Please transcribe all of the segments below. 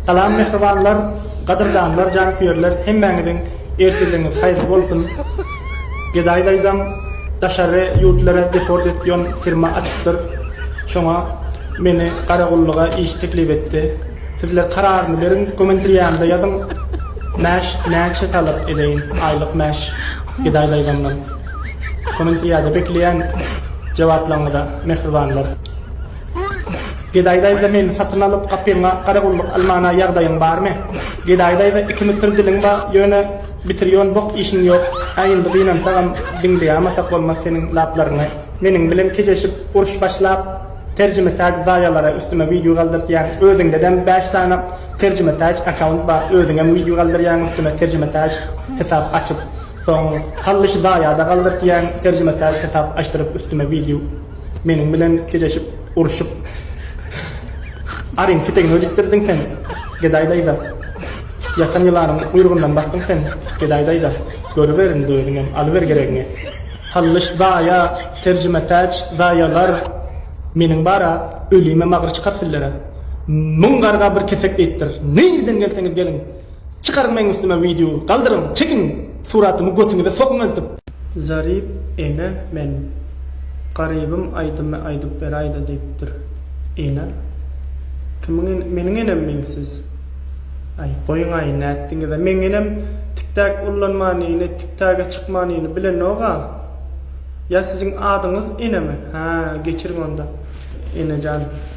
Salam mähribanlar, gadyrdanlar, janköýerler hemmäňiziň ertirligiňiz haýyrly bolsun! Gedaý daýzam daşary ýurtlara deport etýon firma açypdyr. Şoňa meni garagullyga iş teklip etdi. Sizler kararyny beriň komentriýamda ýazyň mäş näçe talap edeýin aýlyk mäş Gedaý daýzamdan. Komentriýada bekleýän jogaplaňyza mähribanlar. Gedaý daýza meni satyn alyp gapyňa garagulluk almana ýagdaýyň barmy? Gedaý daýza iki mütür diliň bar ýöne bitir ýon bok işiň ýok a indi gynansagam diňleýamasak bolmaz seniň laplaryňy meniň bilen kejeşip uruş başlap terjimetäc zaýalara üstüme wideo galdyrtýaň özüňdedem bäş sany terjimetäc akaunt bar özüňem wideo galdyrýaň üstüne terjimetäc hesap açyp soň hally şu zaýada galdyrtýaň terjimetäc hesap açdyryp üstüme wideo Meniň bilen geleşip urşup Aryň petegini öjükdirdiň sen, gedaý daýza. Ýatan ýylanyň guýrugyndan basdyň sen, gedaý daýza. Görüber indi özüňem, alyber geregiňi. Hallyş zaýa, terjimetäç zaýalar Meniň bar-a, ölime magyr çykar sizlere. Müň garga bir kesek diýipdir. Nireden gelseňiz geliň. Çykaryň meň üstüme wideo galdyryň çekiň suratymy götüňize sokuň eltip. Zarip ene men garybym aýdymy aýdyp beräýdä diýipdir ene kimiň ene meniň enemmi siz aý goýuňaý nätdiňizä meň enem tiktäk ullanmanyny tiktäge çykmanyny bilenoga ýa siziň adyňyz enemi hä geçiriň onda enejan.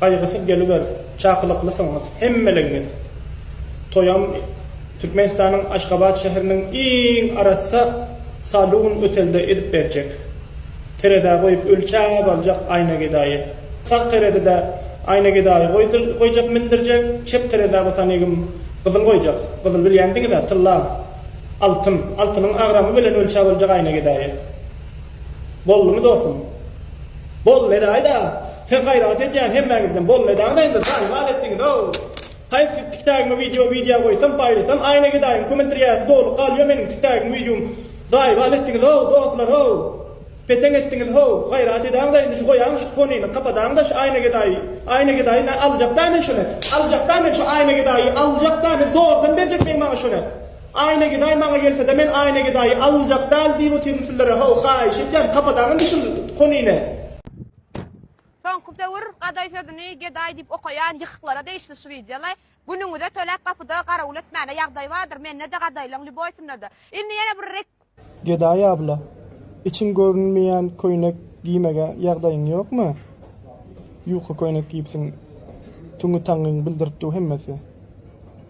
Gaýgysyz geliber, çakylyklysyngyz hemmelegňiz. Toýam Türkmenistanyň Aşgabat şäheriniň iň arassa salun otelde edip berjek. Terezä goýup ölçäp aljak aýna gedaýy. Sag terezidä aýna gedaýy goýjak mindirjek, çep terezä bolsa negim gyzyl goýjak. Gyzyl bilýändiňizä tylla, altyn, altynyň agramy bilen ölçäp aljak aýna gedaýy. Boldumy dostum? Boldy gedaýy-da. Sen gaýrat edýän hemmäňizden bolmay dagda indi zaýwal etdiňizow. Haýsy tik tagyňa wideo wideo goýsam paýlasam aýna gedaýyň komentrýasy doly galýo meniň tik tagyň wideom zaýwal etdiňizow dostlarow. Peteň etdiňiz how gaýrat edäňda indi şu goýaň şu ponyny kapadaňda şu aýna gedaýy aýna gedaýy na aljakda men şony aljakda men şu aýna gedaýy aljakda men zordan berjek meň maňa şony aýna gedaý maňa gelsede men aýna gedaýy aljak dal diýip otyryn sizlere how haýyş etýän kapadaň indi şul ponyny. Soňky döwür Gaday sözüni Gedaý diýip okaýan ýykyklara degişli şu wideolar. Günüňize töläp gapyda garawul etmäne ýagdaý bardyr, mende-de Gadaýlaň Lýuboýsynda-da. Indi ýene bir rek. Gedaý abla, içiň görünmeýän köýnek giýmege ýagdaýyň ýokmy? Ýuka köýnek giýipsiň, tüňňi taňňyň bildirip dur hemmesi.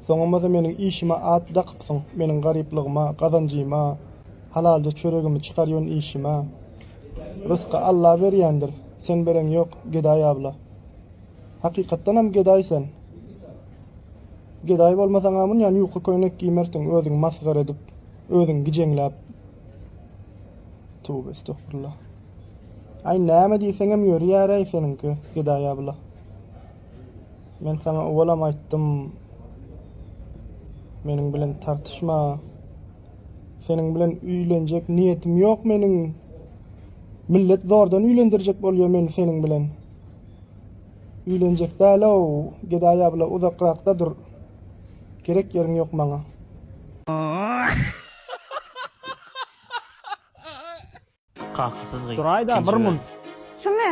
Soňamada meniň işime at dakypsyň, meniň garyplygyma, gazanjyma, halalja çöregimi çykarýon işime. Rysky Alla berýändir, sen bereň ýok, gedaý abla. Hakykatdanam gedaý sen. Gedaý bolmasaňam ynjan ýuka köýnek giýmersiň özüňi masgara edip, özüňi gijeňläp. Tövbe estogfurullah. Aý näme diýseňem ýörýäräý seniňki, gedaý abla. Men saňa owalam aýtdym, meniň bilen tartyşma. Seniň bilen üýlenjek niýetim ýok meniň. Millet zordan üýlendirjek bolýa meni seniň bilen. Üýlenjek däl-ow, Gedaý abla uzakrakda dur. Gerek ýeriň ýok maňa. Kakasyz gyz. Duraýda bir mun. Şumy?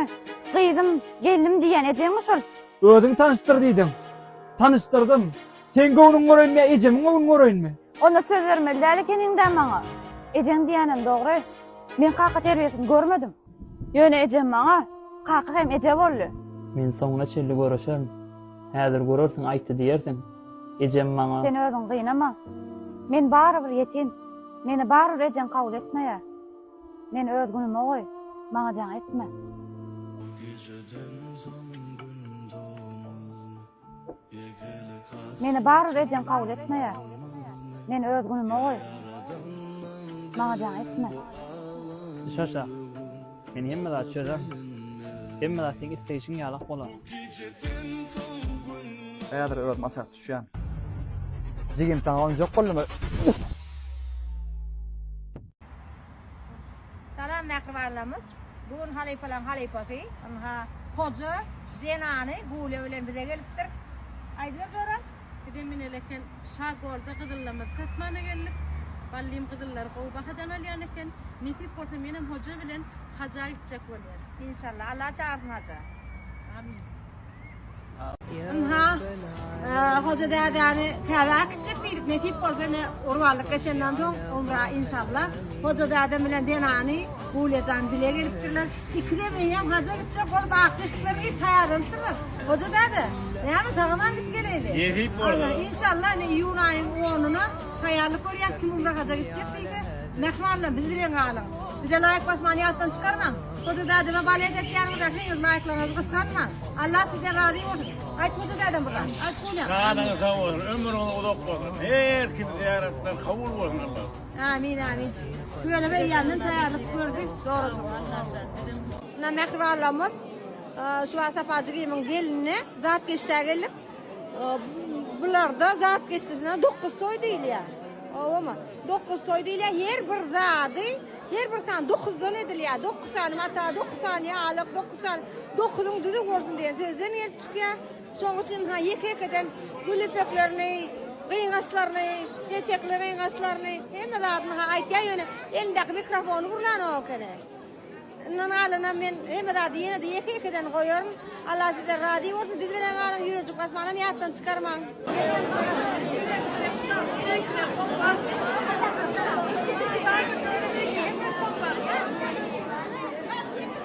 Gyzym, gelnim diýýän ejeňmi şol? Özüň tanyşdyr diýdim. Tanyşdyrdym. Seň göwnüňi göreýinmi ýa ejemiň göwnüni göreýinmi? Onda söz bermeli däl ekeniň-dä maňa. Ejeň diýýänem dogry. Men kaka terbiýesini görmedim. Ýöne ejem maňa kaka hem eje boldy. Men soňuna çenli göreşerin. Häzir görersiň aýtdy diýersiň. Ejem maňa. Sen özüňi gynama. Men barybir ýetim. Meni barybir ejeň kabul etmeýär. Meni öz günüme goý. Maňa jaň etme. Meni barybir ejeň kabul etmeýär. Meni öz günüme goý. Maňa jaň etme. Şaşa. Men hemme zat çözer. Hemme zat seň isleýşiň ýalak bolar. Häzir özüm aşak düşýän. Jigim saňa onjak boldumy? Salam mähribanlarymyz. Bu gün halypalaryň halypasy, ynha, hoja zenany Gulýa bilen bize gelipdir. Aýdyber Jora. Biz hem ine eleken Şa Golda gyzyllymyzy satmana geldik. Ballym gyzyllary gowy bahadan alýan eken. Nesip bolsa menem hoja bilen haja gitjek bolýan. Inşallah Alla çagyrsyn haja. Amin. Ynha, hoja dädäni täze äkitjek diýdik. Nesip bolsa ine urup aldyk geçenden soň umra inşallah. Hoja dädem bilen zenany Gulýajan bile gelipdirler. Pikirem eýýäm haja gitjek bolup akdeşiklerem iýip taýýarlanypdyrlar. Hoja däde, näme sagaman gidip geleýli? Nesip bolsa. Inşallah ine iýun aýyň onuna taýýarlyk görýäs kim umra haja gitjek diýse. Mähmanlar bizi bilen galyň. Bize laýk basmany ýatdan çykarmaň. Hoja dädeme balet etýäniňize heniz laýklaryňyzy gysganmaň. Allah sizden razy bolsun. Aýt hoja dädem bir zat. Aýt Kulýa. Janyňyz sag bolsun, ömrüňiz uzak bolsun. Her kimiň zyýaratlary kabul bolsun Allahym. Amin amin tüweleme eýýamdan taýýarlyk gördi dogrudyr. Muna mähribanlarymyz şu wagt Sapajygimiň gelinine zat geçdä geldik. Bularda zat geçdisine dokuz toý diýilýär. Owamy? Dokuz toý diýilýär. Her bir zady her bir sany dokuzdan edilýär. Dokuz sany mata, dokuz sany ýalyk, dokuz sany dokuzyň düzi bolsun diýen sözden gelip çykýar. Şoň üçin ha ýeke-ýekeden gül ýüpeklerini, gyňaçlaryny, peçekli gyňaçlaryny, hemme zadyny ha aýtýar, ýöne elindäki mikrofony gurlanok ekeni. Yndan galanam men hemme zady ýene-de ýeke-ýekeden goýaryn. Allah sizden razy bolsun, biz bilen galyň, Ýürekjik Basmanam ýatdan çykarmaň.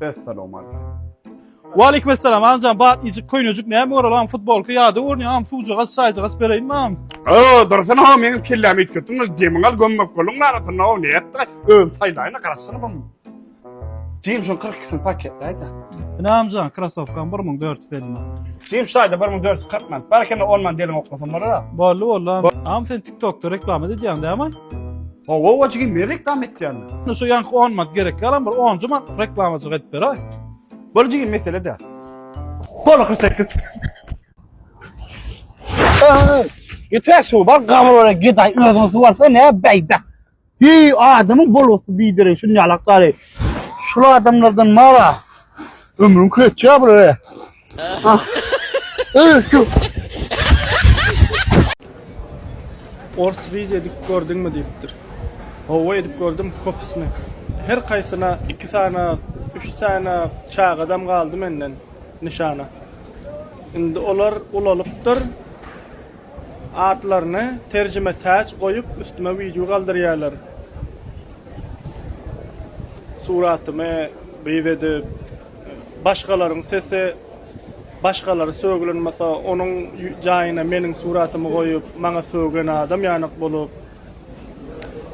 Essalawmaleýkim. Waleýkim essalam agam batlyjyk köýnejik näme göralaň futbolka ýada görünýär agam suwjagaz çaýjagaz bereýinmi agam. Öö dursana ho meň kellämi üýtgetdiň öz demiňi al gömmek bolduň arasynda ho nätdi özüm saýlaýyna garaşsana bum. Jim şun 42'sini paketleýdi. Ynamjan krasowkam 1450 man. Jim şaýda 1440 man. Barkende 10 man deliň oklasam bolar-a. Bolly bolly. Am sen TikTokda reklama edýäň dämi? Owa owa jigim men reklama etýän. Şu ýanky 10 man gerek ýalam bir 10 man reklamajyk edip beraý. Bol jigim mesele däl. Bol 48. Ýeter şu bar gabar bilen gedaý özüň suwarsa ne beýdä. Heý adamyň bolgusy biderek şuny ýalak gary. Şul adamlardan mara ömrüň köçýä bulara. Ors wiz edip gördüňmi diýipdir. Howwa edip gördüm kopisini. Her kaýsyna iki sany üç sany çagadam galdy menden nyşana. Indi olar ulalypdyr. Atlaryny terjime täç goýup üstüme wideo galdyrýarlar. Suratymy gyz edip başgalaryň sesi başgalary sögülenmasa onuň jaýyna meniň suratymy goýup maňa sögülen adam ýanak bolup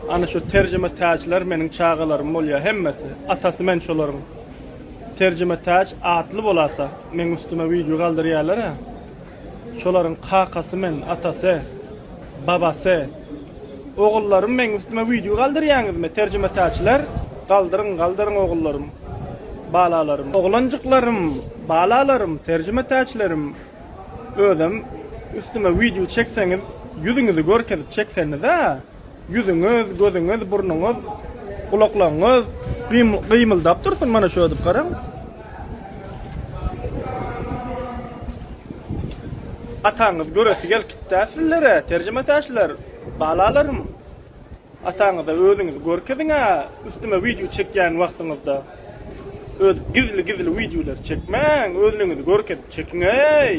ana şu terjime täçler meniň çagalarym bolýa hemmesi atasy men şolaryň terjime täç atly bolasa meň üstüme wideo galdyrýarlara. Şolaryň kakasy men, atasy, babasy. Ogullarym meň üstüme wideo galdyrýaňyzmy terjimetäçiler? Galdyryň, galdyryň ogullarym, balalarym. Oglanjyklarym, balalarym, terjimetäçilerim özem üstüme wideo çekseňiz ýüzüňizi görkezip çekseniza. Ýüzüňiz, gözüňiz, burnuňyz, gulaklaryňyz gymyldap dursun mana şödüp garaň. Ataňyz göresi gelkipdä sizlere, terjimetäşler, balalarym. Ataňyza özüňizi görkeziňä, üstüme wideo çekýän wagtyňyzda. Ödüp gizli-gizli wideolar çekmäň, özlüňizi görkezip çekiňeý.